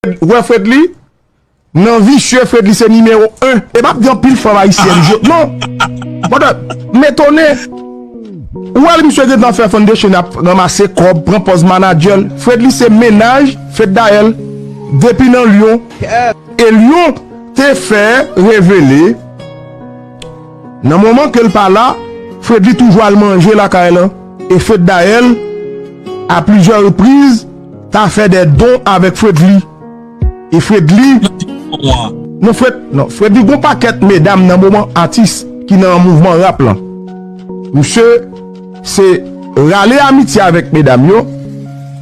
Wè Fredly nan visye Fredly se nimewo 1. E pap gen anpil fanm ayisyèn je non. Mada m etone ou wè l misye gentan fè foundation ap ranmase kòb pran pòz manager l Fredly se mennaj Feddaelle depi nan Lyon e Lyon te fè revele nan moman ke l pa la Fredly toujou al manje lakay lan e Feddaelle a plizyè repriz Ta fè dè don avèk fredly. E fredly. Non fred non fredly gon pakèt medam nan moman atis ki nan mouvman rap lan. Misye se rale amitye avèk medam yo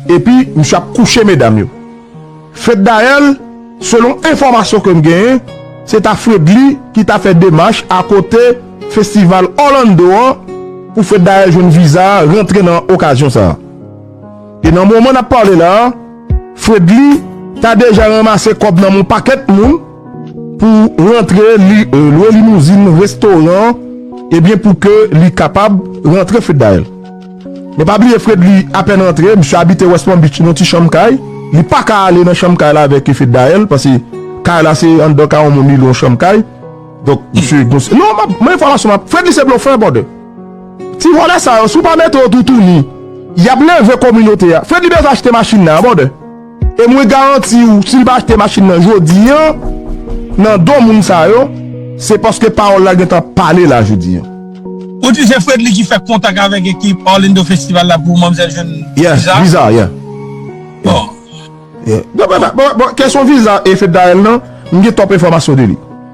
epi misye ap kouche medam yo. Fred dayèl selon enfòmasyon kem genyen se ta fredly ki ta fè demach akote festival orlando an pou fred dayèl jwenn viza rantre nan okazyon sa. E nan moman nap pale la a, Fredly ta deja ranmase kòb nan mon pakèt moun pou rantre li lwe limouzin restoran ebyen pou ke li kapab rantre Feddaelle. Men pa bliye Fredly apèn rantre, misye abite West Palm Beach nan ti chanm kay, li paka ale nan chanm kay la avèk Feddaelle pase kay la se anndan kay yon moun li lwe yon chanm kay. Donk misye gonse. Non map, men enfòmasyon map, Fredly se blofè brother. Ti vòlè sa yo si w pa mete yo toutouni y ap leve kominote a. Fredly bezwen achte machin nan an brother e mwen garanti w si l pa achte machin nan jodi an nan do moun sa yo se paske pawòl la gentan pale la jodi an. Ou di se Fredly ki fè kontak avèk ekip Orlando Festival la pou manmzèl jwenn viza? Viza yeah yeah. Bon kesyon viza e Fednaelle nan m gen twòp enfòmasyon de li.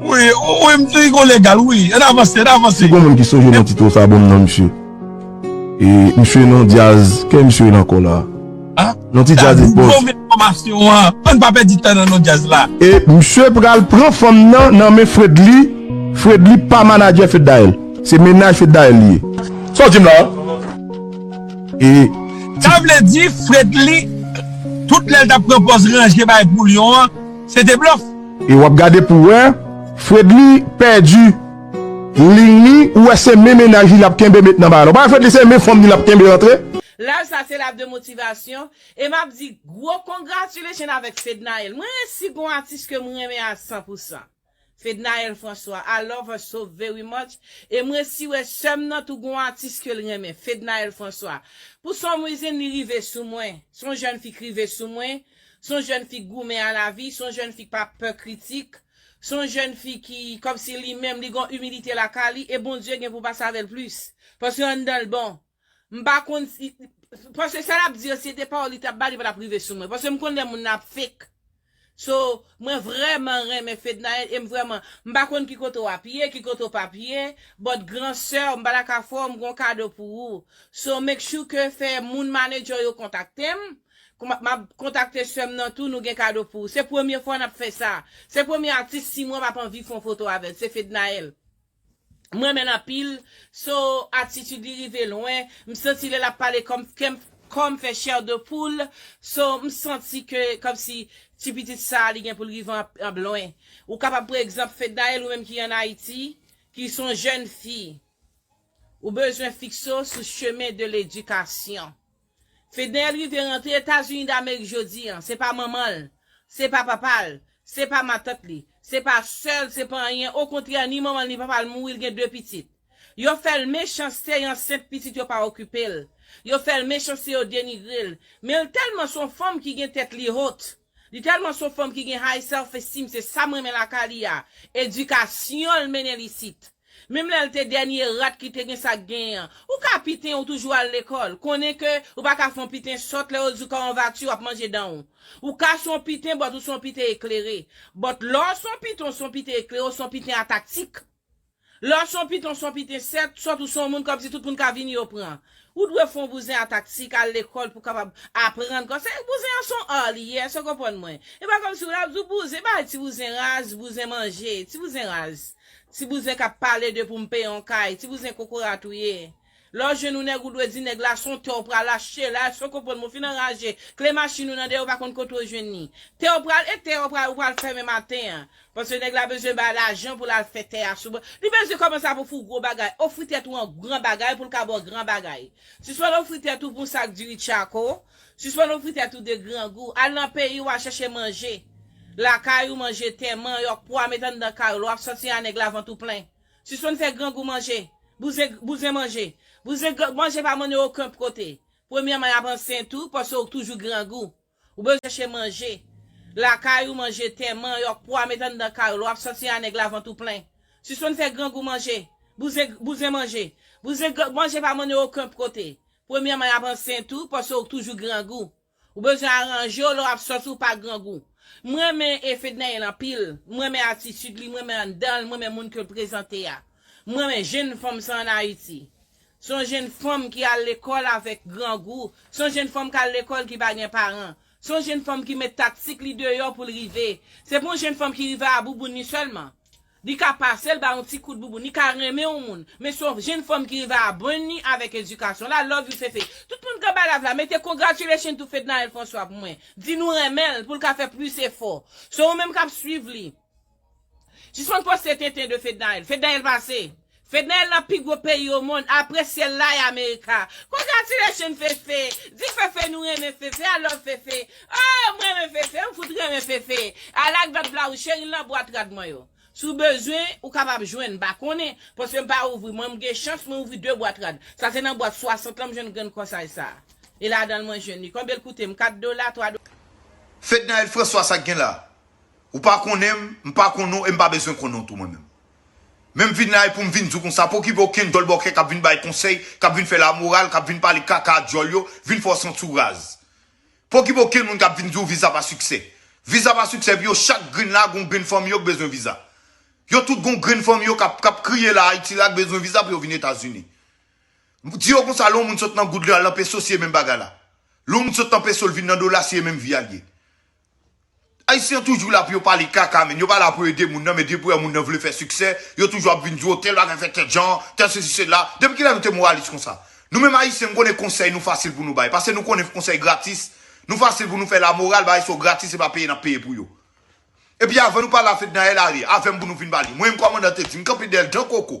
Wi wi m te rigo legal wi an avanse an avanse. Si gon moun ki sonje non tito sa bonm non misye e misye non dyaz kè misye e nan kò la non ti dyaz e pòs. An pa pèdi tan nan non dyaz la. E misye pral pran fanm nan nan men fredly fredly pa manadjè feddael se mennaj feddael li ye sa w di m la e ti. Sa vle di fredly tout lè l tap pran pòz ranje bagay pou lion an se te blòf. E wap gade pou wè Fredly pèdi Ling li ou wè se men mennaj li lap kenbe met nan bagay la ou pa wè Fredly se men fanm li lap kenbe antre. Live sa se live de motivation e map di gwo congratulation avèk Fednaelle mwen ren si gon atis kem renmen a 100 pou 100 Fednaelle François I love her so very much e mwen si wè sèm nan tou gon atis kel renmen Fednaelle François pou some reason li rive sou mwen son jèn fi k rive sou mwen S on jèn fi k goumen a lavi, s on jèn fi k pa pè kritik, s on jèn fi ki kòmsi li menm li gon imilite lakay li e Bondye gen pou pase avè l plis. Paske anndan l bon. M pa konn si, paske sa l ap di yo si se te pawòl li t ap bay li pa t ap rive sou mwen. Paske m konn lè moun nan ap fake. So, mwen vrèman renmen Fednaelle e m vrèman, m pa konn ki kote w ap ye, ki kote w p ap ye, but gran sè w m pa ta ka fè w, m gen yon kado pou ou. So, make sure ke fè moun manager w yo kontakte m, Map kontakte sèm nan tou nou gen kado pou ou se premye fwa nap fè sa se premye atis si mwen pap anvi fon foto avèl se Fednaelle m renmenl anpil so atitid li rive lwen m santi lè lap pale kòm kèm kòm fè chè de poul so m santi ke kòmsi ti pitit sa li gen poul rive anpl lwen ou kapab pran egzanp Fednaelle ou menm ki an Ayiti ki son jèn fi ou bezwen fikse w sou chemen de ledikasyon. Fednaelle rive rantre etazini damerik jodi an se pa manman l se pa papa l se pa matant li se pa sè l se pa anyen okontrè ni manman l ni papa l mouri l gen 2 pitit yo fè l mechanste y ansent pitit yo pa okipe l yo fè l mechanste yo denigre l men l tèlman s on fanm ki gen tèt li haute Li telman son fanm ki gen high self esteem se sam renmen lakay li a, edikasyonl mennenl isit. Menm lèl te dènye rat li te gen sak genyen an. Ou ka piten ou toujou al lekòl, konnen ke ou pa ka fon piten sòt lè yo diw kaonvati wap manje danw. Ou ka son piten but ou son piten eklere. But lèw son piten ou son piten eklere ou son piten a taktik. Lè w son piton son piten sèt sòt ou son moun kòm si tout moun ka vini yo pran ou dwe fon bouzen a taktik al lekòl pou kapab aprann kòm se bouzen an son art li ye èske w konprann mwen e pa kòm si w la ap di w bouzen e pa ti bouzen raz bouzen manje ti bouzen raz ti bouzen kap pale de pou m peye yon kay ti bouzen kokorat ou ye Lè w jwenn yon nèg ou dwe di nèg la son tè w pral achte la èske w konprann mwen fin anraje kle machin ou nan dèyè ou pa konn kote w jwenn li tè w pral e tè w pral ou pral fèmen maten an paske nèg la bezwen bay lajan pou l al fè tè a sou bon li bezwen kòmanse ap ofri w gwo bagay ofri tèt ou an gran bagay pou l ka ba w gran bagay sispann ofri tèt ou pou yon sak diri tchako sispann ofri tèt ou de grangou al nan peyi w al chèche manje lakay ou manje tè manyòk pwa met anndan kay ou lè w ap sòti a nèg la vant ou plen Sispann fè grangou manje. Bouzen bouzen manje. Bouzen gran manje pa mennen oken kote. Premyèman y ap ansent ou paske ou toujou grangou. Ou bezwen chèche manje. Lakay ou manje tè, manyòk, pwa met anndan kay ou lè w ap sòti a nèg la vant ou plen. Sispann fè grangou manje. Bouzen bouzen manje. Bouzen gran manje pa mennen oken kote. Premyèman y ap ansent ou paske ou toujou grangou. Ou bezwen aranjew lè wap sòti ou pa grangou. M renmen e Fednaelle anpil, m renmen atitid li, m renmen anndanl, m renmen moun ke l prezante a. M renmen jenn fanm sa an Ayiti. Se yon jenn fanm ki al lekòl avèk grangou, se yon jenn fanm kal lekòl ki pa gen paran. Se yon jenn fanm ki met taktik li deyò pou l rive. Se pa yon jenn fanm ki rive a bouboun li sèlman. Li ka pase l ba yon ti kout bouboun, li ka renmen yon moun, men se yon jenn fanm ki rive a brenn li avèk edikasyon la, love you Fefe. Tout moun k anba live la mete congratulations to Fednaelle François pou mwen, di nou renmen l pou l ka fè plis efò. Se ou menm k ap swiv li. Sispann poste tenten de Fednaelle. Fednaelle pase. Fedna el nan pi gwo peyi o mond apre syel la e america congratulations fefe di fefe nou renmen fefe I love fefe oh m renmen fefe m fout renmen fefe I like dot blaouz cheri l nan bwat rad mwen yo si w bezwen ou kapab jwenn m pa konnen paske m pa ouvri mwen m gen chans mwen ouvri 2 bwat rad sa se nan bwat 60 lan m jwenn grenn kòsaj sa e ladan l mwen jwenn li konbyen l koute m 4 dola 3 Fednaelle François sa gen la ou pa konnen m m pa konnen w e m pa bezwen konnen w tou mwen menm Men m vin la e pou m vin di w konsa, pa okipe okenn dòlbòkè k ap vin bay konsèy, k ap vin fè lamoral, k ap vin pale kaka a djòl yo, vin fè w santi w raz. Pa okipe okenn moun k ap vin di w viza pa siksè. Viza pa siksè pou yo, chak grenn la a gen yon grenn fanmi yo k bezwen viza. Yo tout gen yon grenn fanmi yo k ap k ap kriye la Ayiti la k bezwen viza pou yo vin Etazini. Di yo konsa lè yon moun sot nan goud li al nan peso se menm bagay la. Lè yon moun sot nan peso l vin nan dola se menm vi a l ye. Ayisyen toujou la pou yo pale kaka menn, yo pa la pou yo ede moun nan men depi yo wè moun nan vle fè siksè, yo toujou ap vin di w tèl bagay fèt tèl jan, tèl sesi sela, depi kilè nou te moralis konsa? Nou menm ayisyen m konnen konsèy nou fasil pou nou bay, pase nou konnen konsèy gratis, nou fasil pou nou fè la moral, bagay sa yo gratis se pa peye nap peye pou yo. Epi avan nou pale a Fednaelle ale avèm pou nou fin pale, mwen menm kòmandan te di m kanpe dèyèl dan koko,